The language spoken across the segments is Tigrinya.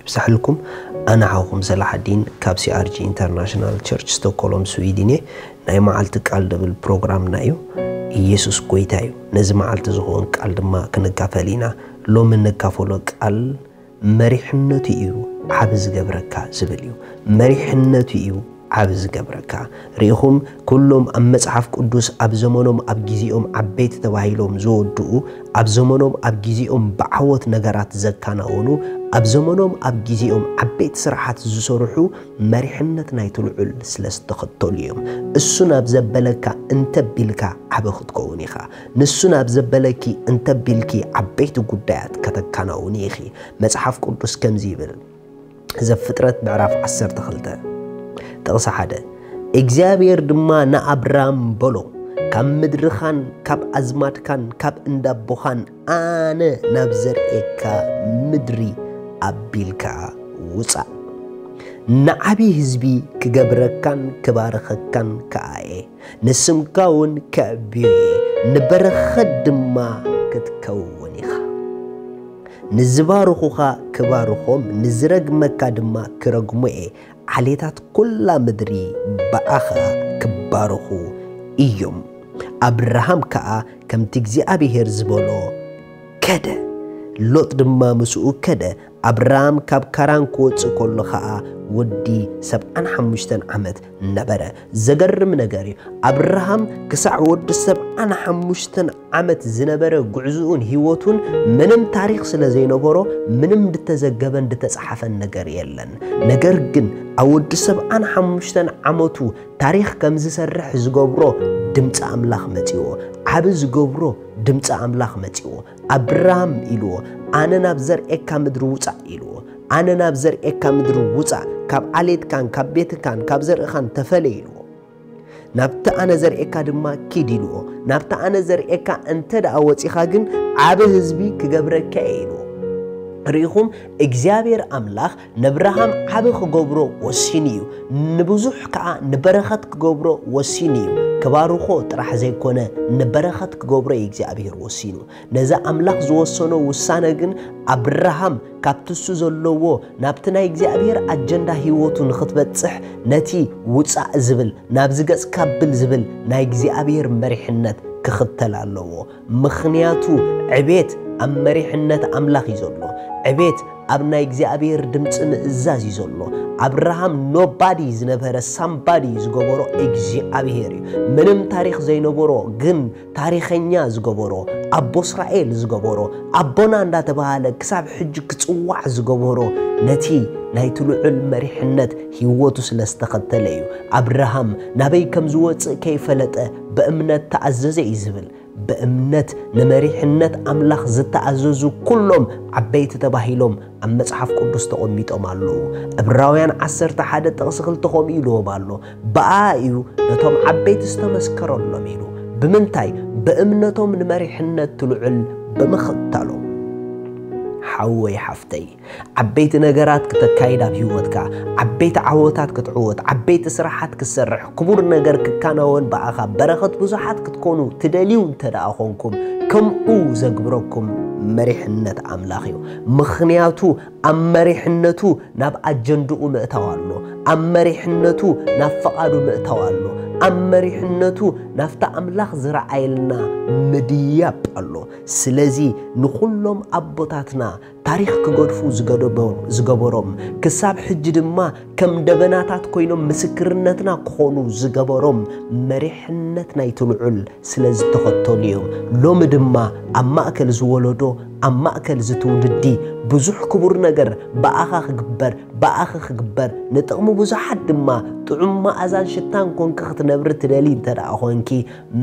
ይብዛሕልኩም ኣነ ሓውኩም ሰላሓዲን ካብ CRG International Church Stockholm Sweden እየ ናይ ማዓልቲ ቃል ድብል ፕሮግራምና እዩ ኢየሱስ ጎይታ እዩ ነዚ ማዓልቲ ዝኮን ቃል ድማ ክንካፈል ኢና ሎሚ ንካፈሎ ቃል መሪሕነቱ እዩ ዓቢ ዝገብረካ ዝብል እዩ መሪሕነቱ እዩ ዓቢ ዝገብረካ ርኢኹም ኩሎም ኣብ መጽሓፍ ቅዱስ ኣብ ዘመኖም ኣብ ግዜኦም ዓበይቲ ተባሂሎም ዝወድኡ ኣብ ዘመኖም ኣብ ግዜኦም ብዓወት ነገራት ዘካናውኑ ኣብ ዘመኖም ኣብ ግዜኦም ዓበይቲ ስራሓት ዝሰርሑ መሪሕነት ናይቲ ልዑል ስለ ዝተኸተሉ እዮም እሱ ናብ ዘበለካ እንተቢልካ ዓቢ ክትከውን ኢኻ ንሱ ናብ ዘበለኪ እንተቢልኪ ዓበይቲ ጉዳያት ከተካናውኒ ኢኺ መጽሓፍ ቅዱስ ከምዚ ይብል ዘፍጥረት ምዕራፍ ዓሰርተ ክልተ ጥቕሲ ሓደ እግዚኣብሔር ድማ ንኣብራም በሎ ካብ ምድርኻን ካብ ኣዝማድካን ካብ እንዳቦኻን ኣነ ናብ ዘርእየካ ምድሪ ኣቢልካ ውፃእ ንዓብዪ ህዝቢ ክገብረካን ክባርኸካን ከኣ እየ ንስምካ ውን ከዕብዮ እየ፣ ንበረኸት ድማ ክትከውን ኢኻ። ንዝባርኹኻ ክባርኾም፣ ንዝረግመካ ድማ ክረግሞ እየ፣ ዓሌታት ኵላ ምድሪ ብኣኻ ክባረኹ እዮም። ኣብርሃም ከኣ ከምቲ እግዚኣብሄር ዝበሎ ከደ፣ ሎጥ ድማ ምስኡ ከደ፣ ኣብራም ካብ ካራን ክወጽእ ከሎ ኸኣ ወዲ ሰብዓን ሓሙሽተን ዓመት ነበረ። ዘገርም ነገር እዩ፣ ኣብርሃም ክሳዕ ወዲ ሰብዓን ሓሙሽተን ዓመት ዝነበረ ጕዕዞኡን ህይወቱን ምንም ታሪኽ ስለ ዘይነበሮ ምንም ድተዘገበን ድተጸሓፈን ነገር የለን። ነገር ግን ኣብ ወዲ ሰብዓን ሓሙሽተን ዓመቱ ታሪኽ ከም ዝሰርሕ ዝገብሮ ድምጺ ኣምላኽ መጺዎ። ዓቢ ዝገብሮ ድምጺ ኣምላኽ መጺዎ። ኣብራም ኢልዎ ኣነ ናብ ዘርእካ ምድሪ ውጻእ ኢልዎ ኣነ ናብ ዘርእካ ምድሪ ውጻእ ካብ ዓሌትካን ካብ ቤትካን ካብ ዘርእኻን ተፈለ ኢልዎ ናብቲ ኣነ ዘርእካ ድማ ኪድ ኢልዎ ናብቲ ኣነ ዘርእካ እንተ ደኣ ወጺኻ ግን ዓብ ህዝቢ ክገብረካ እየ ኢልዎ ርኢኹም እግዚኣብሔር ኣምላኽ ነብርሃም ዓቢ ክገብሮ ወሲኑ እዩ ንብዙሕ ከኣ ንበረኸት ክገብሮ ወሲኑ እዩ ክባርኾ ጥራሕ ዘይኮነ ንበረኸት ክገብሮ እዩ እግዚኣብሔር ወሲኑ ነዚ ኣምላኽ ዝወሰኖ ውሳነ ግን ኣብርሃም ካብቲ እሱ ዘለዎ ናብቲ ናይ እግዚኣብሔር ኣጀንዳ ህይወቱ ንኽትበጽሕ ነቲ ውጻእ ዝብል ናብዚ ገጽ ካብል ዝብል ናይ እግዚኣብሔር መሪሕነት ክኽተል ኣለዎ ምኽንያቱ ዕቤት ኣብ መሪሕነት ኣምላኽ እዩ ዘሎ። ዕቤት ኣብ ናይ እግዚኣብሔር ድምፂ ምእዛዝ እዩ ዘሎ። ኣብርሃም ኖባዲ ዝነበረ ሳምባዲ ዝገበሮ እግዚኣብሔር እዩ። ምንም ታሪኽ ዘይነበሮ ግን ታሪኸኛ ዝገበሮ ኣቦ እስራኤል ዝገበሮ ኣቦና እንዳተባሃለ ክሳብ ሕጂ ክፅዋዕ ዝገበሮ ነቲ ናይቲ ልዑል መሪሕነት ህይወቱ ስለ ዝተኸተለ እዩ። ኣብርሃም ናበይ ከም ዝወፅእ ከይፈለጠ ብእምነት ተኣዘዘ እዩ ዝብል። ብእምነት ንመሪሕነት ኣምላኽ ዝተኣዘዙ ኩሎም ዓበይቲ ተባሂሎም ኣብ መጽሓፍ ቅዱስ ተቐሚጦም ኣለዉ። ዕብራውያን ዓሰርተ ሓደ ጥቕሲ ክልተ ከምኡ ኢልዎም ኣሎ፣ ብኣኣ እዩ ነቶም ዓበይቲ ዝተመስከረሎም ኢሉ። ብምንታይ? ብእምነቶም ንመሪሕነት ልዑል ብምኽታሎም። ሓወይ ሓፍተይ! ዓበይቲ ነገራት ክተካይድ ኣብ ህይወትካ ዓበይቲ ዓወታት ክትዕወት ዓበይቲ ስራሓት ክትሰርሕ ክቡር ነገር ክካናወን ብኣኻ በረኸት ብዙሓት ክትኮኑ ትደልዩ እንተ ደኣ ኾንኩም ከምኡ ዘግብረኩም መሪሕነት ኣምላኽ እዩ ምኽንያቱ ኣብ መሪሕነቱ ናብ ኣጀንድኡ ምእታው ኣሎ ኣብ መሪሕነቱ ናብ ፈቓዱ ምእታው ኣሎ ኣብ መሪሕነቱ ናብቲ ኣምላኽ ዝረኣየልና ምድያብ ኣሎ ስለዚ ንዅሎም ኣቦታትና ታሪኽ ክገድፉ ዝገበሮም ክሳብ ሕጂ ድማ ከም ደበናታት ኮይኖም ምስክርነትና ክኾኑ ዝገበሮም መሪሕነት ናይቲ ልዑል ስለ ዝተኸተሉ እዮም። ሎሚ ድማ ኣብ ማእከል እዚ ወለዶ ኣብ ማእከል እዚ ትውልዲ ብዙሕ ክቡር ነገር ብኣኻ ክግበር ብኣኺ ክግበር ንጥቕሚ ብዙሓት ድማ ጥዑም መኣዛን ሽታን ኮንኪ ክትነብሪ ትደልዪ እንተደኣ ኮንኪ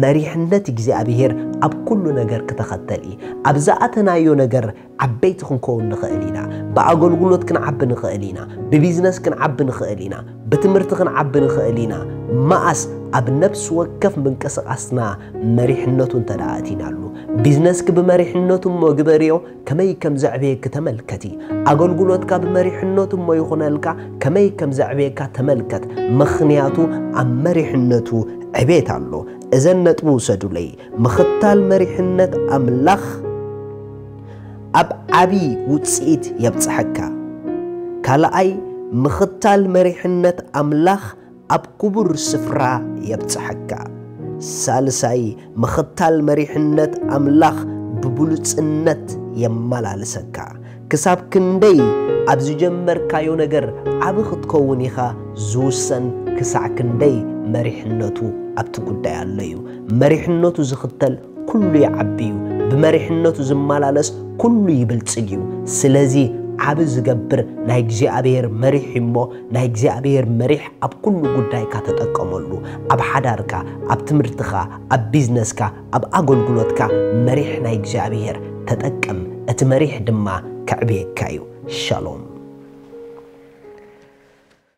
መሪሕነት እግዚኣብሄር ኣብ ኩሉ ነገር ክተኸተል እዪ። ኣብ ዝኣተናዮ ነገር ዓበይቲ ክንከውን ንኸእል ኢና። ብኣገልግሎት ክንዓቢ ንኸእል ኢና። ብቢዝነስ ክንዓቢ ንኸእል ኢና። ብትምህርቲ ክንዓቢ ንኸእል ኢና። መኣስ? ኣብ ነፍሲ ወከፍ ምንቅስቓስና መሪሕነቱ እንተድኣ ኣእቲናሉ። ቢዝነስኪ ብመሪሕነቱ እሞ ግበርዮ። ከመይ ከም ዘዕበየኪ ተመልከቲ። ኣገልግሎትካ ብመሪሕነቱ እሞ ይኹነልካ፣ ከመይ ከም ዘዕበየካ ተመልከት፣ ምኽንያቱ ኣብ መሪሕነቱ ዕቤት ኣሎ። እዘን ነጥቢ ውሰዱለይ፣ ምኽታል መሪሕነት ኣምላኽ ኣብ ዓቢ ውጽኢት የብጽሐካ። ካልኣይ፣ ምኽታል መሪሕነት ኣምላኽ ኣብ ኩቡር ስፍራ የብጽሐካ። ሳልሳይ ምኽታል መሪሕነት ኣምላኽ ብብሉጽነት የማላልሰካ። ክሳብ ክንደይ ኣብ ዝጀመርካዮ ነገር ዓቢ ክትከውን ኢኻ ዝውሰን ክሳዕ ክንደይ መሪሕነቱ ኣብቲ ጉዳይ ኣሎ እዩ። መሪሕነቱ ዝኽተል ኩሉ ይዓቢ እዩ፣ ብመሪሕነቱ ዝመላለስ ኩሉ ይብልጽግ እዩ። ስለዚ ዓቢ ዝገብር ናይ እግዚኣብሔር መሪሕ እዩ እሞ ናይ እግዚኣብሔር መሪሕ ኣብ ኩሉ ጉዳይካ ተጠቀመሉ። ኣብ ሓዳርካ፣ ኣብ ትምህርትኻ፣ ኣብ ቢዝነስካ፣ ኣብ ኣገልግሎትካ መሪሕ ናይ እግዚኣብሔር ተጠቀም እቲ መሪሕ ድማ ከዕብየካ እዩ። ሻሎም።